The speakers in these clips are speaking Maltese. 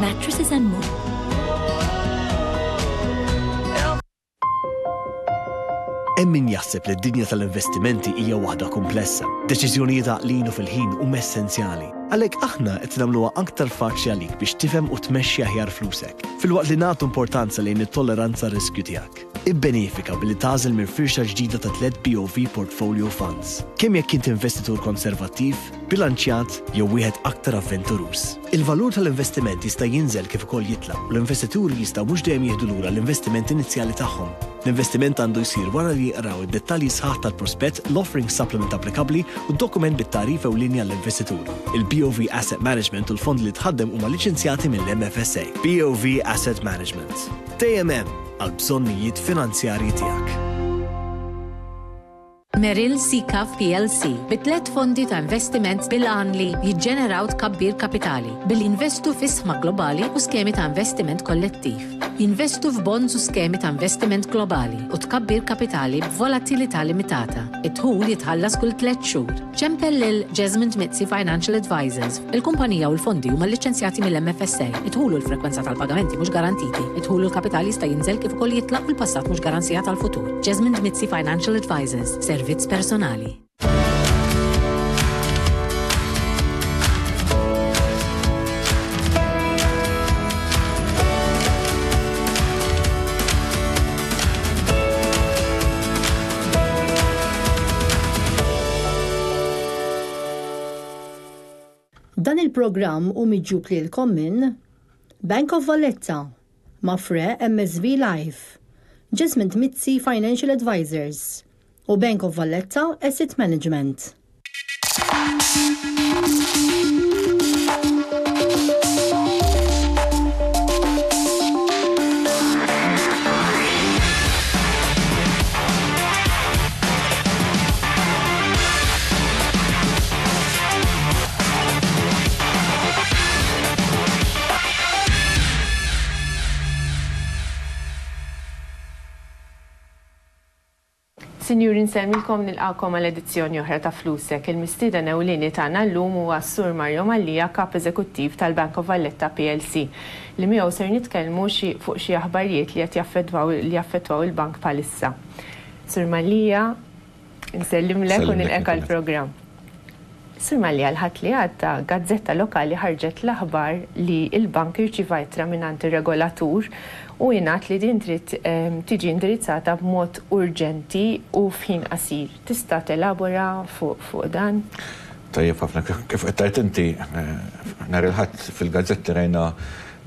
Mattresses and more. Hemm min jaħseb li d-dinja tal-investimenti hija waħda kumplessa. Deċiżjonijiet għaqlin u fil-ħin huma essenzjali. Għalhekk aħna qed nagħmluha aktar faċli għalik biex tifhem u tmexxi aħjar flusek, filwaqt li nagħtu importanza lejn it-tolleranza għar-riskju tiegħek. Ibbenefika billi tagħżel minn firxa ġdida ta' tliet BOV Portfolio Funds, kemm jekk int investitur konservattiv, bilanċjat jew wieħed aktar avventuruż. Il-valur tal-investiment jista' jinżel kif ukoll jitla' u l-investituri jistgħu mhux dejjem jieħdu lura l-investiment inizjali tagħhom. L-investiment għandu jsir wara li jqraw id-dettalji sħaħ tal-prospett, l-offering supplement applikabbli u d-dokument bit-tagħrif ewlieni għall-investitur. Il-BOV Asset Management u l-fondi li tħaddem huma liċenzjati mill-MFSA. BOV Asset Management. Dejjem hemm! għall-bżonnijiet finanzjarji tiegħek. Merrill Sicaf plc bi tliet fondi ta' investiment bil-għan li jiġġeneraw tkabbir kapitali billi jinvestu fi sħma globali u skemi ta' investiment kollettiv. Jinvestu f'bonds u skemi ta' investiment globali u tkabbir kapitali b'volatilità limitata. Id-dħul jitħallas kull tliet xhur. Ċempel lil Jesmond Mizzi Financial Advisors. Il-kumpanija u l-fondi huma lliċenzjati mill-MFSA, id-dħul u l-frekwenza tal-pagamenti mhux garantiti, id-dħul u l-kapital jista' jinżel kif ukoll jitlaq u l-passat mhux garanzija tal-futur. Jasmine Dmizzi Financial Advisors, servizz personali. Dan il-programm hu miġjub lilkom minn, Bank of Valletta, Mapfre MSV Life, Jesmond Mizzi Financial Advisors u Bank of Valletta Asset Management. Sinjuri nsellmilkom nilqakom għal edizzjoni oħra ta' Flusek. Il-mistieden ewlieni tagħna llum huwa s-Sur Mario Mallia, Kap Eżekuttiv tal-Bank of Valletta plc, li miegħu ser nitkellmu xi fuq xi aħbarijiet li qed jaffettwaw li jaffettwaw il-bank bħalissa. Sur Mallia, Nsellimlek u nilqek għall-programm. Sur Mallia, l-Ħadd li għadda, gazzetta lokali ħarġet l-aħbar li l-bank irċieva ittra mingħand ir-regolatur u ingħad li din trid tiġi indirizzata b'mod urġenti u f'ħin qasir. Tista' telabora fuq dan? Tajjeb ħafna. Kif qed tgħid inti, nhar il-Ħadd fil-gazzetti rajna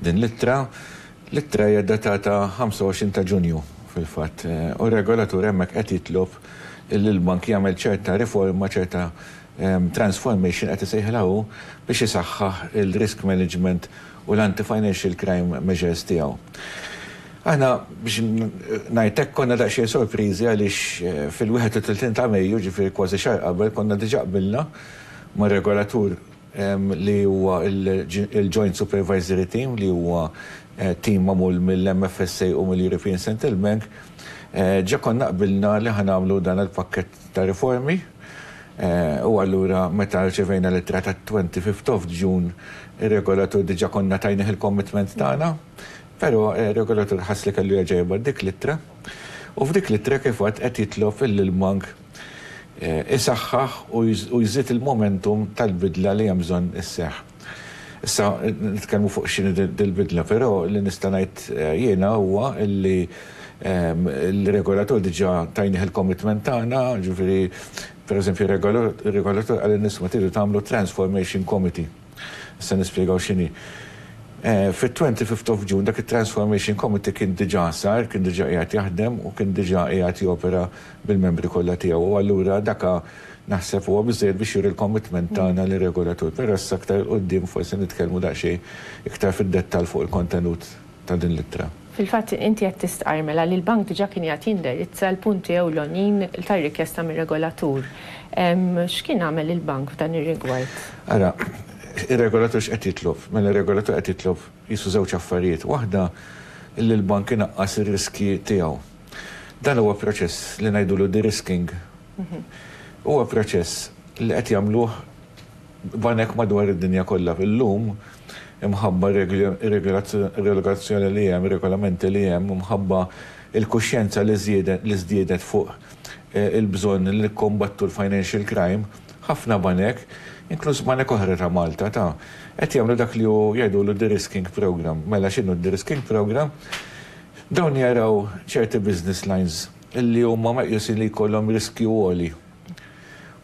din l-ittra. L-ittra hija ddatata 25 ta' Ġunju, fil-fatt, u r-regolatur hemmhekk qed jitlob li l-bank jagħmel ċerta riforma, ċerta transformation qed isejħilha hu, biex isaħħaħ il-risk management u l-anti-financial crime measures tiegħu. Aħna, biex ngħid hekk, konna daqsxejn sorpriżi għaliex fil-31 ta' Mejju, jiġifieri kważi xahar qabel, konna diġà qbilna mar-regolatur li huwa l-Joint Supervisory Team li huwa tim magħmul mill-MFSA u mill-European Central Bank, ġa konna qbilna li ħa nagħmlu dan il-pakkett ta' riformi u allura meta rċevejna l-ittra tat-Twenty Fifth of June ir-Regolatur diġa konna tajnih il-commitment tagħna pero r-Regolatur ħass li kellu jerġa' jibgħat dik l-ittra u f'dik l-ittra kif għad qed jitlob illi l-Bank isaħħaħ u jżid il-momentum tal-bidla li hemm bżonn isseħħ. Issa nitkellmu fuq x'inhi dil-bidla, però li nista' ngħid jiena huwa li l-regolatur diġà tajnih il-commitment tagħna, jiġifieri pereżempju r-regolatur qal lin-nies ma tridu tagħmlu transformation committee. Se nispjegaw x'inhi. Fit-25 of June dak it-Transformation Committee kien diġà sar, kien diġà qiegħed jaħdem u kien diġà qiegħed jopera bil-membri kollha tiegħu u allura dak naħseb huwa biżżejjed biex juri l-commitment tagħna lir-Regolatur. Però issa aktar 'il quddiem forsi nitkellmu daqsxejn iktar fid-dettall fuq il-kontenut. ta' din l-ittra. Fil-fatt, inti qed tistqarr mela li l-Bank diġà kien qiegħed jindirizza l-punti ewlonin tar-rikjesta mir-regolatur. X'kien għamel il-Bank f'dan ir-rigward? Ara, ir-regolatur x'qed jitlob? Mela r-regolatur qed jitlob qisu żewġ affarijiet. Waħda, li l-Bank inaqqas ir-riskji tiegħu. Dan huwa proċess li ngħidulu de-risking. Huwa proċess li qed jagħmluh banek madwar id-dinja kollha illum imħabba r-regolazzjoni li hemm, regolamenti li hemm, imħabba l-kuxjenza li żdiedet fuq il-bżonn li nikkombattu l-financial crime, ħafna banek, inkluż banek oħra ta' Malta, ta, qed jagħmlu dak li hu jgħidulu de-risking programme. Mela x'inhu d-de-risking programme? Dawn jaraw ċerti business lines li huma meqjusin li jkollhom riskju għoli.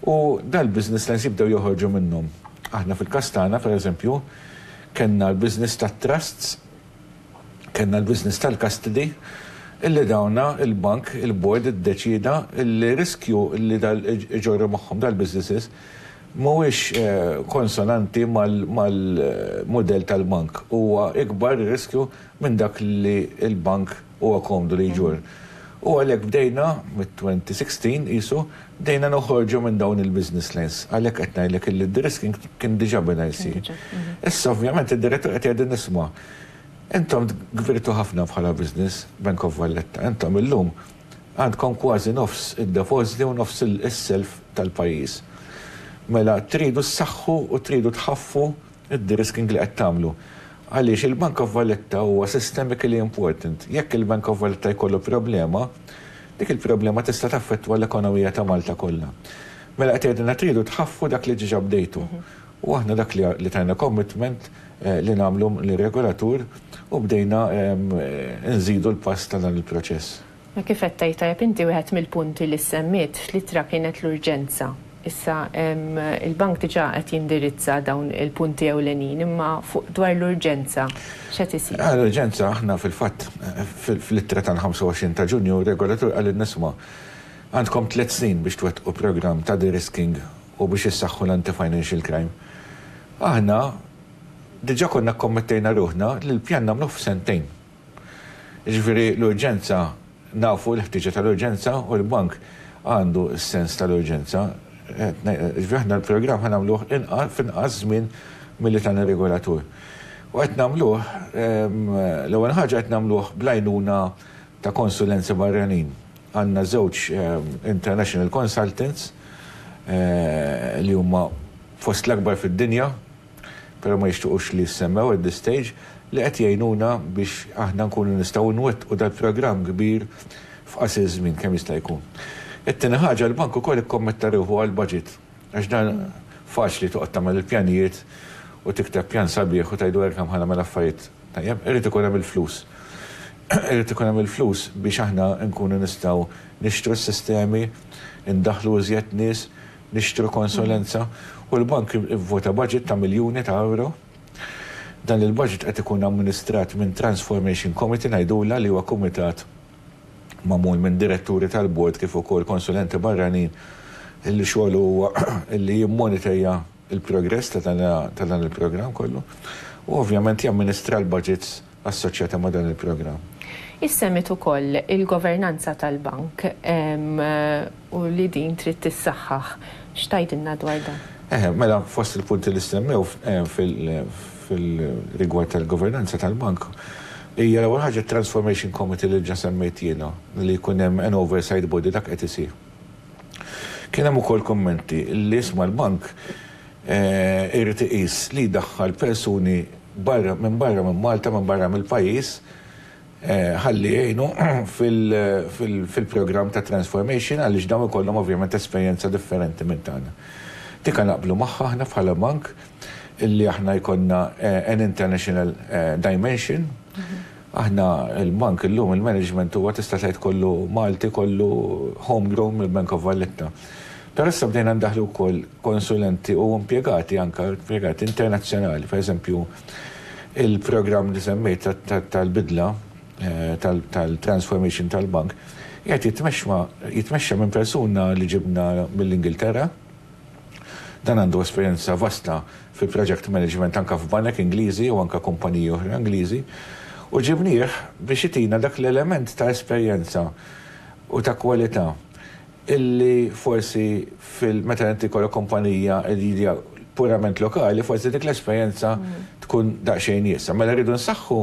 U dal-business lines jibdew joħorġu minnhom. Aħna fil-każ tagħna, pereżempju, kellna l-business tat-trusts, kellna l-business tal-custody, illi dawn il-bank, il-board iddeċieda li riskju li iġorru magħhom dal-businesses mhuwiex konsonanti mal-mudell tal-bank. Huwa ikbar ir-riskju minn dak li l-bank Huwa komdu li jġorr. U għalhekk bdejna, mit-2016 qisu, bdejna noħorġu minn dawn il-business lines. Għalhekk qed ngħidlek illi d-de-risking kien diġà beda jsir. Issa ovvjament id-Direttur qed jgħidilna isma', intom kbirtu ħafna bħala business, Bank of Valletta, intom illum għandkom kważi nofs id-depożiti u nofs is-self tal-pajjiż. Mela tridu ssaħħu u tridu tħaffu id-derisking li qed tagħmlu. Għaliex il-Bank of Valletta huwa systemically important. Jekk il-Bank of Valletta jkollu problema, dik il-problema tista' taffettwa l-ekonomija ta' Malta kollha. Mela qed tgħidilna tridu tħaffu dak li diġà bdejtu. U aħna dak li tajna commitment li nagħmlu lir-regolatur u bdejna nżidu l-pass ta' dan il-proċess. Ma kif qed tgħid tajjeb inti wieħed mill-punti li ssemmiet fl-ittra kienet l-urġenza. Issa il-Bank diġà qed jindirizza dawn il-punti ewlenin imma fuq dwar l-urġenza x'qed isir? Għal urġenza aħna fil-fatt fl-ittra tal-25 ta' Ġunju r-regolatur qalilna isma' għandkom tliet snin biex twettqu programm ta' de-risking u biex issaħħu l-anti-financial crime. Aħna diġà konna kkommettejna ruħna li l-pjan nagħmluh f'sentejn. Jiġifieri l-urġenza, nafu l-ħtieġa tal-urġenza u l-Bank għandu s-sens tal-urġenza. Jiġifieri aħna l-programm ħa nagħmluh f'inqas żmien milli tana r-regolatur. U qed nagħmluh, l-ewwel ħaġa qed nagħmluh bl-għajnuna ta' konsulenza barranin. Għandna żewġ international consultants li huma fost l-akbar fid-dinja. però ma jixtiequx li jissemmew at this stage, li qed jgħinuna biex aħna nkunu nistgħu nwettqu dal-programm kbir f'qasir żmien kemm jista' jkun. It-tieni ħaġa, l-Bank ukoll ikkommetta ruħu għall-budget, għax dan faċli toqgħod tagħmel il-pjanijiet u tikteb pjan sabiħ u tgħidu hekk hemm ħa nagħmel affarijiet tajjeb, irid ikun hemm il-flus. Irid ikun hemm il-flus biex aħna nkunu nistgħu nixtru s-sistemi, indaħħlu iżjed nies, nixtru konsulenza u l-bank ivvota baġit ta' miljuni ta' ewro. Dan il-baġit qed ikun amministrat minn Transformation Committee ngħidulha li huwa kumitat magħmul minn diretturi tal-bord kif ukoll konsulenti barranin illi xogħlu huwa illi jimmoniterja l-progress ta' dan il-programm kollu u ovvjament jamministra l-baġits assoċjata ma' dan il-programm. Issemmiet ukoll il-governanza tal-Bank u li din trid tissaħħaħ. X'tgħidilna dwar dan? Eħe, mela fost il-punti li ssemmew fil-rigward tal-governanza tal-Bank hija l-ewwel ħaġa t-Transformation Committee li diġà semmejt jiena li jkun hemm an oversight body dak qed isir. Kien hemm ukoll kummenti li isma' l-Bank irid iqis li jdaħħal persuni barra minn barra minn Malta, minn barra mill-pajjiż, ħalli jgħinu fil-programm ta' transformation għaliex dawn ikollhom ovvjament esperjenza differenti minn tagħna. Dik ha naqblu magħha aħna bħala bank li aħna jkollna an international dimension. Aħna l-bank illum il-management huwa tista' tgħid kollu Malti, kollu home grown mill-Bank of Valletta. Però issa bdejna ndaħħlu wkoll konsulenti u impjegati anke impjegati internazzjonali. Per eżempju, il-programm li semmejt tal-bidla tal-transformation tal-bank qiegħed jitmexxa minn persuna li ġibna mill-Ingilterra, Dan għandu esperjenza vasta fi project management anke f'banek Ingliżi u anke kumpaniji oħra Ingliżi u ġibnieh biex itina dak l-element ta' esperjenza u ta' kwalità illi forsi fil meta inti jkollok kumpanija li hija purament lokali forsi dik l-esperjenza tkun daqsxejn iesgħa. Mela rridu nsaħħu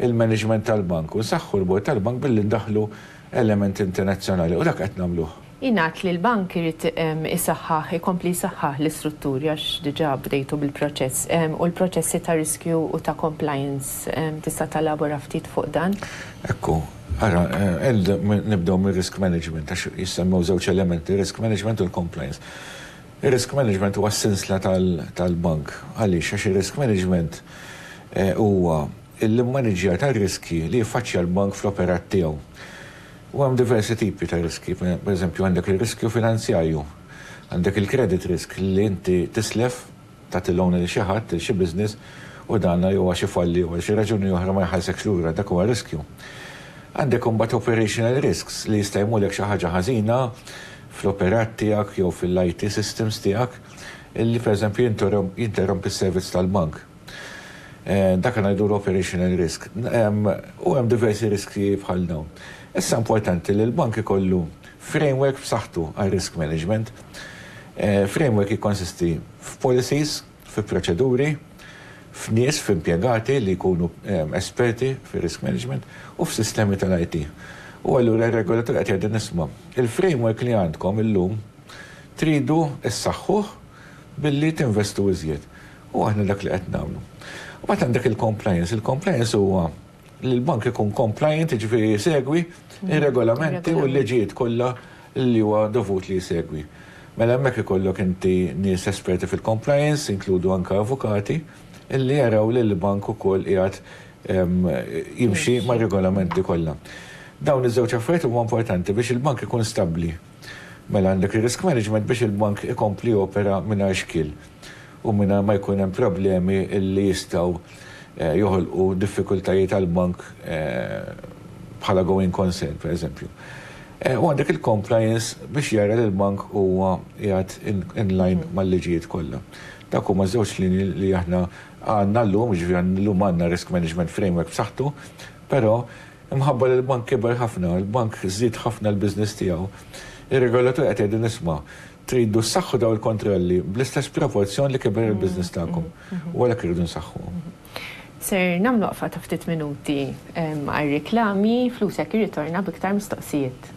l-management tal-bank u nsaħħu l-bord tal-bank billi ndaħħlu element internazzjonali u dak qed nagħmluh. Jingħad li l-Bank irid isaħħaħ, ikompli jsaħħaħ l-istrutturi għax diġà bdejtu bil-proċess, u l-proċessi ta' riskju u ta' compliance. Tista' telabora ftit fuq dan? Ekku, ara, nibdew mir-risk management għax jissemmew żewġ elementi, ir-risk management u l-compliance. Ir-risk management huwa s-sinsla tal-Bank. Għaliex? Għax ir-risk management huwa l-immaniġġjar tar-riskji li jiffaċċja l-bank fl-operat tiegħu. U hemm diversi tipi ta' riskji. Pereżempju, għandek ir-riskju finanzjarju. Għandek il-credit risk li inti tislef, tagħti loan lil xi ħadd, lil xi business, u dan jew għax ifalli jew għal xi raġuni oħra ma jħallsekx lura, dak huwa riskju. Għandek imbagħad operational risks li jista' jmulek xi ħaġa ħażina fl-operat tiegħek jew fil-IT systems tiegħek li pereżempju jinterrompi s-servizz tal-bank. Dak li ngħidu l-operational risk. U hemm diversi riskji bħal dawn. Issa importanti li l-bank ikollu framework b'saħħtu għar-risk management. Framework jikkonsisti f'policies, fi proċeduri, f'nies, f'impjegati li jkunu esperti fir-risk management u f'sistemi tal-IT. U allura r-regolatur qed jgħidilna isma', il-framework li għandkom illum tridu ssaħħuh billi tinvestu iżjed. U aħna dak li qed nagħmlu. U mbagħad għandek il-compliance. Il-compliance huwa li l-bank ikun compliant, jiġifieri jsegwi ir-regolamenti u l-liġijiet kollha li huwa dovut li jsegwi. Mela hemmhekk ikollok inti nies esperti fil-compliance, inkludu anke avukati, li jaraw li l-bank ukoll qiegħed jimxi mar-regolamenti kollha. Dawn iż-żewġ affarijiet huma importanti biex il-bank ikun stabbli. Mela għandek ir-risk management biex il-bank ikompli jopera mingħajr xkiel u mingħajr ma jkun hemm problemi li jistgħu joħolqu diffikultajiet għall-bank bħala going concern, pereżempju. U għandek il-compliance biex jara li l-bank huwa qiegħed in line mal-liġijiet kollha. Dawk huma ż-żewġ linji li aħna għandna llum, jiġifieri llum għandna risk management framework b'saħħtu, però Imħabba li l-bank kiber ħafna, il-bank żied ħafna l-business tiegħu, ir-regolatur qed jgħidlin isma', tridu ssaħħu dawn il-kontrolli bl-istess proporzjon li kiber il-business tagħkom u għalhekk irridu nsaħħuhom. Ser nagħmlu waqfa ta' ftit minuti għar-riklami, Flusek jirritorna b'iktar mistoqsijiet.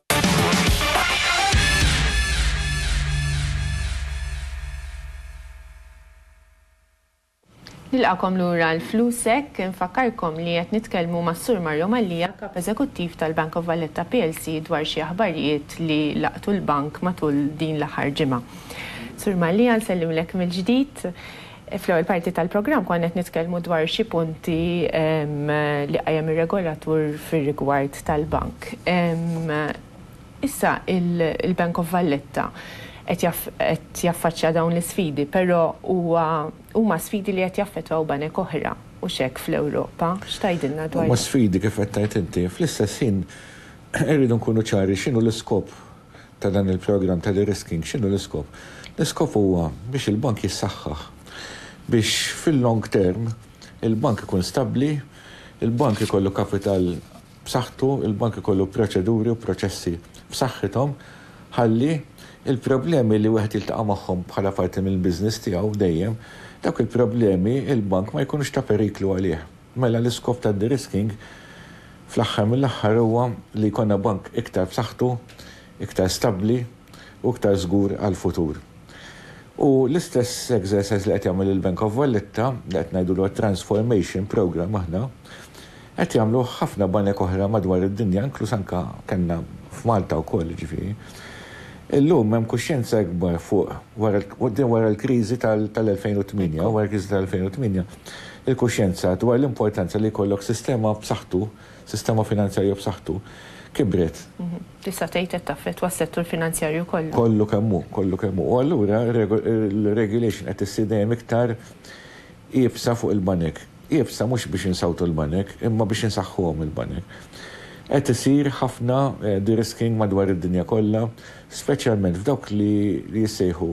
Nilqagħkom lura għal Flusek. Infakkarkom li qed nitkellmu mas-Sur Mario Mallia, Kap Eżekuttiv tal-Bank of Valletta plc dwar xi aħbarijiet li laqtu l-bank matul din l-aħħar ġimgħa. Sur Mallia, nsellimlek mill-ġdid. Fl-ewwel parti tal-programm konna qed nitkellmu dwar xi punti li qajjem ir-regolatur fir-rigward tal-bank. Issa il-Bank of Valletta qed jaffaċċja dawn l-isfidi, però huwa huma sfidi li qed jaffettwaw banek oħra, hux hekk, fl-Ewropa? X'tgħidilna dwar dan? Huma sfidi kif qed tgħid inti. Fl-istess ħin irridu nkunu ċari x'inhu l-iskop ta' dan il-programm ta' de-risking, x'inhu l-iskop? L-iskop huwa biex il-bank jissaħħaħ, biex fil-long term il-bank ikun stabbli, il-bank ikollu kapital b'saħħtu, il-bank ikollu proċeduri u proċessi b'saħħithom ħalli l-problemi li wieħed jiltaqa' magħhom bħala parti mill-business tiegħu dejjem, dawk il-problemi il-bank ma jkunux ta' periklu għalih. Mela l-iskop tad-derisking fl-aħħar mill-aħħar huwa li jkollna bank iktar b'saħħtu, iktar stabbli u iktar żgur għall-futur. U l-istess exercise li qed jagħmel il-Bank of Valletta, li qed ngħidulu transformation programme aħna, qed jagħmluh ħafna banek oħra madwar id-dinja, inkluż anke kellna f'Malta wkoll jiġifieri, Illum hemm kuxjenza ikbar fuq wara quddiem wara l-kriżi tal-2008, wara l-kriżi tal-2008, il-kuxjenza dwar l-importanza li jkollok sistema b'saħħtu, sistema finanzjarja b'saħħtu, kibret. Tista' tgħid qed taffettwa s-settur finanzjarju kollu. Kollu kemm hu, kollu kemm hu. U allura r-regulation qed issir dejjem iktar iebsa fuq il-banek. iebsa mhux biex insawtu l-banek imma biex insaħħuhom il-banek. Qed isir ħafna de-risking madwar id-dinja kollha, speċjalment f'dawk li jissejħu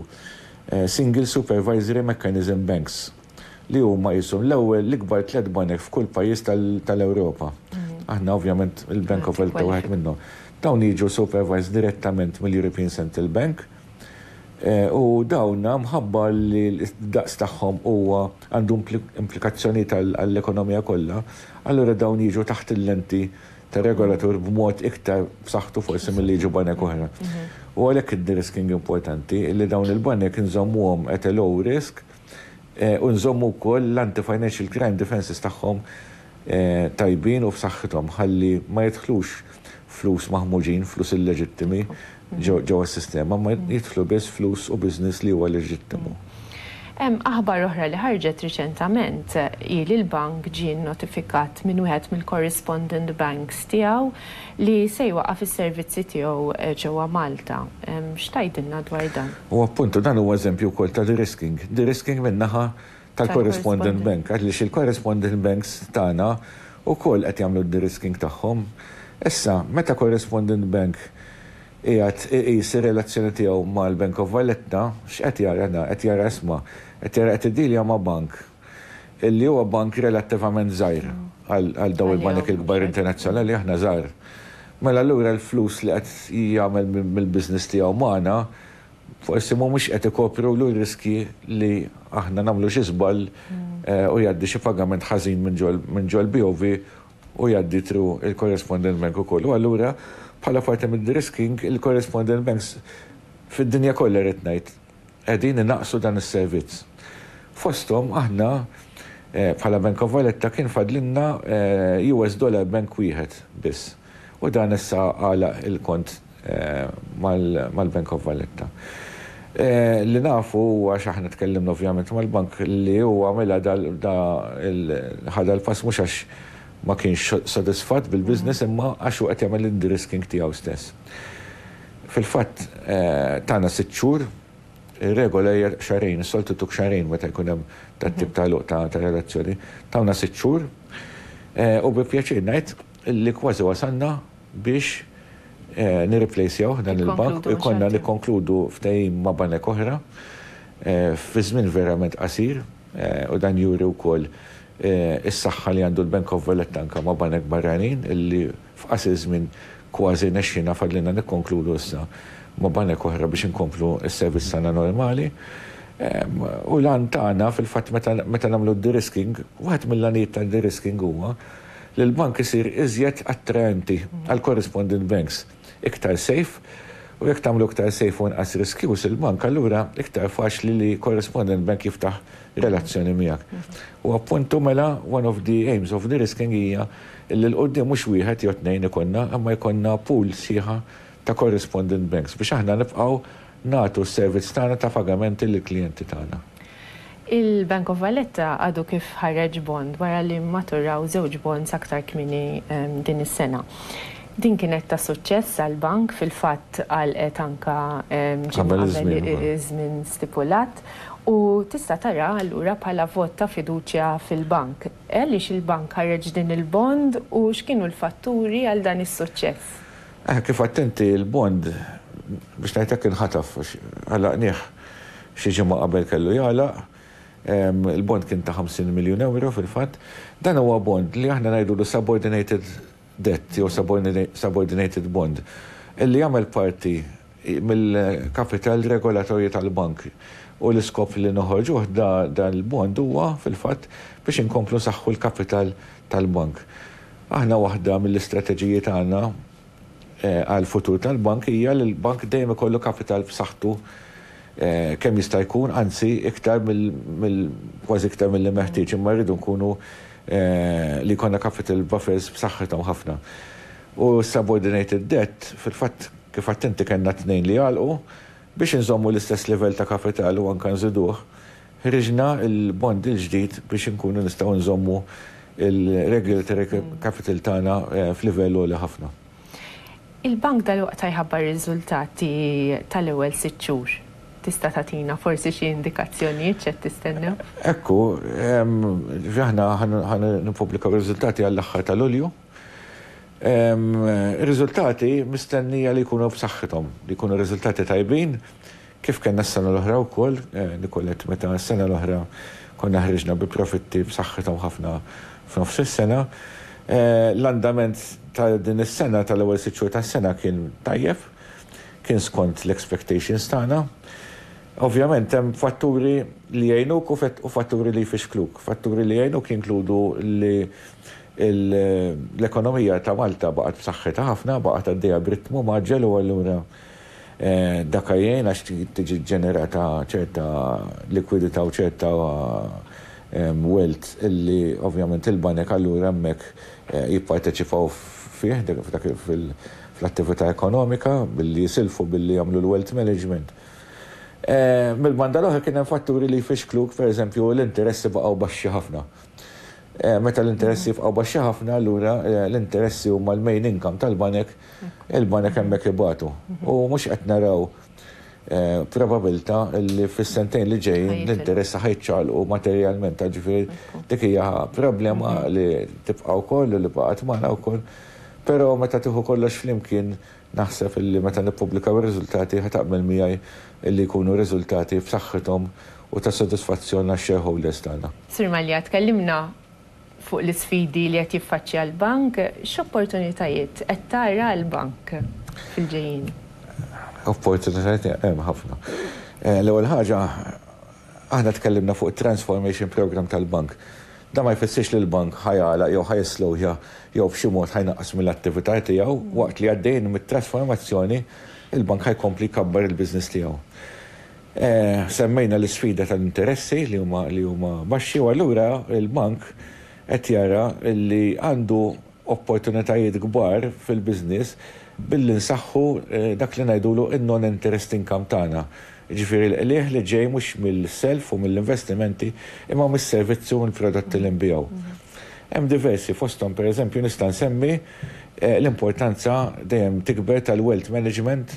single supervisory mechanism banks, li huma qishom l-ewwel l-ikbar tliet banek f'kull pajjiż tal-Ewropa. Aħna ovvjament il-Bank of Welta wieħed minnhom. Dawn jiġu supervised direttament mill-European Central Bank. U dawn mħabba li d-daqs tagħhom huwa għandu implikazzjonijiet għall-ekonomija kollha, allura dawn jiġu taħt il-lenti ta' regolatur b'mod iktar b'saħħtu forsi milli jiġu banek oħra. U għalhekk id-de-risking importanti, li dawn il-banek inżommuhom at a low risk u nżommu wkoll l-anti-financial crime defences tagħhom tajbin u f'saħħithom ħalli ma jidħlux flus maħmuġin, flus illeġittimi ġewwa s-sistema imma jidħlu biss flus u business li huwa leġittimu. Hemm aħbar oħra li ħarġet riċentament hi li l-bank ġie nnotifikat minn wieħed mill-correspondent banks tiegħu li se jwaqqaf is-servizzi tiegħu ġewwa Malta. X'tgħidilna dwar dan? U appuntu dan huwa eżempju wkoll ta' de-risking. De-risking min-naħa tal-correspondent bank għaliex il-correspondent banks tagħna wkoll qed jagħmlu d-derisking tagħhom. Issa, meta correspondent bank qiegħed iqis ir-relazzjoni tiegħu mal-Bank of Valletta, x'qed jara da? Qed jara isma', qed jara qed iddilja ma' bank li huwa bank relattivament żgħir għal dawn il-banek il-kbar internazzjonali, aħna żgħar. Mela allura l-flus li qed jagħmel mill-business tiegħu magħna, Forsi mhumiex qed ikopru l-riskji li aħna nagħmlu xi żball u jgħaddi xi pagament ħażin minn ġol-BOV u jgħaddi through il-correspondent bank ukoll. U allura bħala parti mid-de-risking, il-correspondent banks fid-dinja kollha rrid ngħid, qegħdin inaqqsu dan is-servizz. Fosthom aħna bħala Bank of Valletta kien fadlilna US dollar bank wieħed biss. U dan issa għalaq il-kont mal-Bank of Valletta. Li nafu huwa, għax aħna tkellimna ovvjament mal-bank, li hu għamilha da ħa dal-pass mhux għax ma kienx sodisfatt bil-business imma għax hu qed jagħmel l-indrisking tiegħu stess. Fil-fatt tana sitt xhur, ir-regola hija xahrejn, is-soltu jtuk xahrejn meta jkun hemm dat-tip ta' għeluq ta' relazzjoni. Tawna sitt xhur u bi pjaċir ngħid, li kważi wasalna biex nirriplejsjawh dan il-bank u jkollna nikkonkludu ftehim ma' banek oħra fi żmien verament qasir u dan juri wkoll is-saħħa li għandu l-Bank of Valletta anke ma' banek barranin li f'qasir żmien kważi nexxiena fadlilna nikkonkludu issa ma' banek oħra biex inkomplu s-servizz tagħna normali u l-għan tagħna fil-fatt meta nagħmlu d-derisking, wieħed mill-għanijiet tad-derisking huwa li l-bank isir iżjed attraenti għal correspondent banks, iktar safe, u jekk tagħmlu iktar safe u inqas riskjuż il-bank allura iktar faċli li correspondent bank jiftaħ relazzjoni miegħek. U appuntu mela one of the aims of de-risking hija li 'l quddiem mhux wieħed jew tnejn ikollna imma jkollna pool sħiħa ta' correspondent banks biex aħna nibqgħu nagħtu s-servizz tagħna ta' pagamenti lill-klijenti tagħna. Il-Bank of Valletta għadu kif ħareġ bond wara li mmaturaw żewġ bonds aktar kmieni din is-sena. Din kienet ta' suċċess għall-bank, fil-fatt għalqet anke ġimgħa qabel iż-żmien stipulat u tista' taraha allura bħala vot ta' fiduċja fil-bank. Għaliex il-bank ħareġ din il-bond u x'kienu l-fatturi għal dan is-suċċess? Eh, kif għedt inti, il-bond, biex ngħid hekk, inħataf għax għalaqnieh xi ġimgħa qabel kellu jagħlaq. Il-bond kien ta' 50 miljun ewro fil-fatt. Dan huwa bond li aħna ngħidulu subordinated debt jew subordinated bond, illi jagħmel parti mill-kapital regolatorju tal-bank u l-iskop li noħorġuh dan il-bond huwa fil-fatt biex inkomplu nsaħħu l-kapital tal-bank. Aħna waħda mill-istrateġiji tagħna għall-futur tal-bank hija li l-bank dejjem ikollu kapital b'saħħtu kemm jista' jkun, anzi iktar mill kważi iktar milli meħtieġ, imma rridu nkunu li jkollna capital buffers b'saħħithom ħafna. U s-subordinated debt fil-fatt, Kif għedt inti kellna tnejn li għalqu, biex inżommu l-istess livell ta' kapital u anke nżiduh, ħriġna l-bond il-ġdid biex inkunu nistgħu nżommu l-regulatory capital tagħna f'livell għoli ħafna. Il-bank dalwaqt jħabbar ir-riżultati tal-ewwel sitt xhur. Tista' tagħtina forsi xi indikazzjonijiet x'qed tistennew? Hekk hu. Aħna ħa nippubblikaw ir-riżultati għall-aħħar ta' Lulju. Ir-riżultati mistennija li jkunu b'saħħithom, li jkunu riżultati tajbin kif kellna s-sena l-oħra wkoll, Nicolette, meta s-sena l-oħra konna ħriġna bi profitti b'saħħithom ħafna f'nofs is-sena. L-andament ta' din is-sena, tal-ewwel sitt xhur tas-sena kien tajjeb, kien skont l-expectations tagħna. Ovvjament hemm fatturi li jgħinuk u fatturi li jfixkluk. Fatturi li jgħinuk jinkludu li L-ekonomija ta' Malta baqgħet b'saħħitha ħafna, baqgħet għaddejja b'ritmu mgħaġġel u allura dak jgħin għax tiġi ġġenerata ċerta likwidità u ċerta wealth li ovvjament il-banek allura hemmhekk jipparteċipaw fih, fl-attività ekonomika, billi jisilfu, billi jagħmlu l-wealth management. Mill-banda l-oħra kien hemm fatturi li jfixkluk, pereżempju l-interessi baqgħu baxxi ħafna. Meta l-interessi jibqgħu baxxi ħafna, allura l-interessi huma l-main income tal-banek, il-banek hemmhekk ibatu. U mhux qed naraw probabilità li fis-sentejn li ġejjin l-interessi ħa jiċċaqlqu materjalment. Ġifieri dik hija problema li tibqa' wkoll u li baqgħet magħna wkoll. Però meta tieħu kollox flimkien, Naħseb illi meta nippubblikaw ir-riżultati ħa taqbel miegħi illi jkunu riżultati b'saħħithom u ta' sodisfazzjon għax-shareholders tagħna. Sur Mallia, tkellimna fuq l-isfidi li qed jiffaċċja l-bank. X'opportunitajiet qed tara għall-bank fil-ġejjieni? Opportunitajiet hemm ħafna. L-ewwel ħaġa, aħna tkellimna fuq it-transformation programme tal-bank. Dan ma jfissirx li l-bank ħa jagħlaq jew ħa jislowja jew b'xi mod ħa jnaqqas mill-attività tiegħu. Waqt li għaddejjin mit-trasformazzjoni, il-bank ħa jkompli jkabbar il-business tiegħu. Semmejna l-isfida tal-interessi li huma baxxi u allura l-bank qed jara li għandu opportunitajiet kbar fil-business billi nsaħħu dak li ngħidulu n-non-interest income tagħna, jiġifieri l-qligħ li ġej mhux mill-self u mill-investimenti imma mis-servizzi u mill-prodotti li nbigħu. Hemm diversi fosthom pereżempju nista' nsemmi l-importanza dejjem tikber tal-wealth management,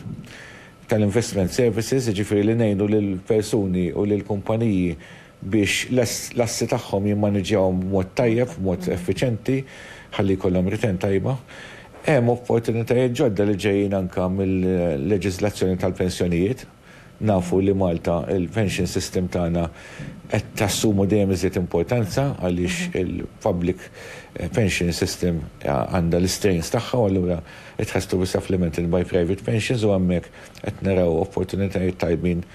tal-investment services, jiġifieri li ngħinu lill-persuni u lill-kumpaniji biex l-assi tagħhom jimmaniġġjawhom b'mod tajjeb, b'mod effiċjenti, ħalli jkollhom return tajba. Hemm opportunitajiet ġodda li ġejjin anke mill-leġiżlazzjoni tal-pensjonijiet. Nafu li Malta, il-pension system tagħna qed tassumu dejjem iżjed importanza għaliex il-public pension system għandha l-istrains tagħha u allura qed tħass to be supplemented by private pensions u hemmhekk qed naraw opportunitajiet tajbin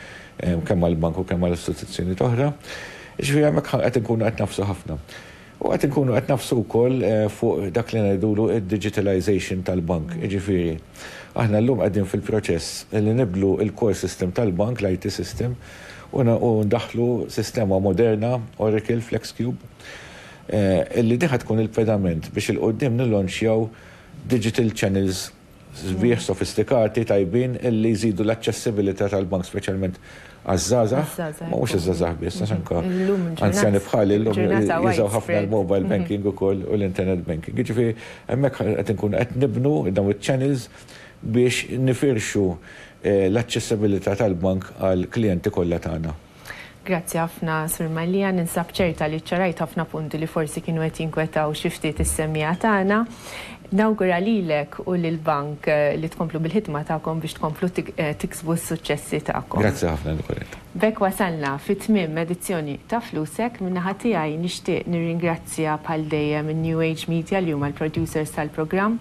kemm għall-bank u kemm għal istituzzjonijiet oħra. Jiġifieri hemmhekk qed inkunu qed nagħfsu ħafna. U qed inkunu qed nagħfsu wkoll fuq dak li ngħidulu d-digitalization tal-bank. Jiġifieri, aħna llum qegħdin fil-proċess li nibdlu l-core system tal-bank, l-IT system, u ndaħħlu sistema moderna, Oracle, FlexCube, illi din ħa tkun il-pedament biex 'il quddiem nillanċjaw digital channels, sbieħ sofistikati tajbin li jżidu l-aċċessibilità tal-bank speċjalment għaż-żgħażagħ, ma mhux iż-żgħażagħ biss, għax anke anzjani bħali llum jużaw ħafna l-mobile banking ukoll u l-internet banking. Jiġifieri hemmhekk qed inkunu qed nibnu dawn iċ-channels biex nifirxu l-aċċessibilità tal-bank għall-klijenti kollha tagħna. Grazzi ħafna, Sur Mallia. Ninsab ċerta li ċċarajt ħafna punti li forsi kienu qed jinkwetaw xi ftit is-semmiegħa tagħna. Nawgura lilek u lill-Bank li tkomplu bil-ħidma tagħkom biex tkomplu tiksbu s-suċċessi tagħkom. Grazzi ħafna, Nicolette. B'hekk wasalna fi tmiem edizzjoni ta' Flusek. Min-naħa tiegħi nixtieq nirringrazzja bħal dejjem in-New Age Media li huma l-producers tal-programm.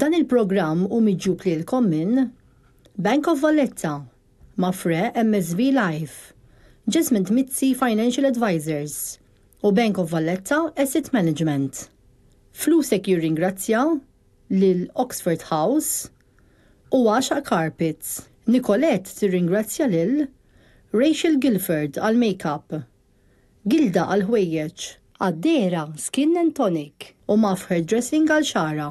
Dan il-programm u miġjub lilkom minn Bank of Valletta, Mafre MSV Life, Jasmine Mizzi Financial Advisors u Bank of Valletta Asset Management. Flusek jirringrazzja lil Oxford House u Għaxaq Carpets. Nicolette tirringrazzja lil Rachel Gilford għall-makeup, Gilda għall-ħwejjeġ. Addera Skin and Tonic u Muff Hairdressing għal xagħarha.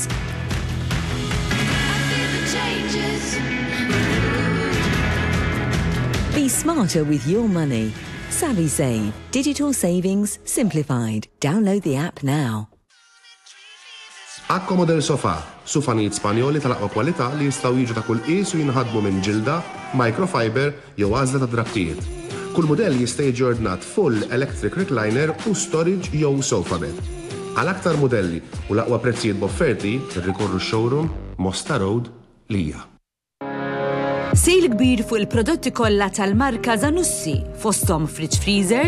Be smarter with your money. SavvySave, digital savings simplified. Download the app now. Accomodel Sofà, sufanijiet Spanjoli tal-aqwa kwalità li jistgħu jiġu ta' kull qies u jinħadmu minn ġilda, microfiber, jew għażla ta' drappijiet. Kull mudell jista' jiġi ordnat full electric recliner u storage jew sofa bed. Għal aktar mudelli u l-aqwa prezzijiet b'offerti, irrikorru x-showroom, Mosta Road, Lija. Sale kbir fuq il-prodotti kollha tal-marka Zanussi, fosthom fridge freezers,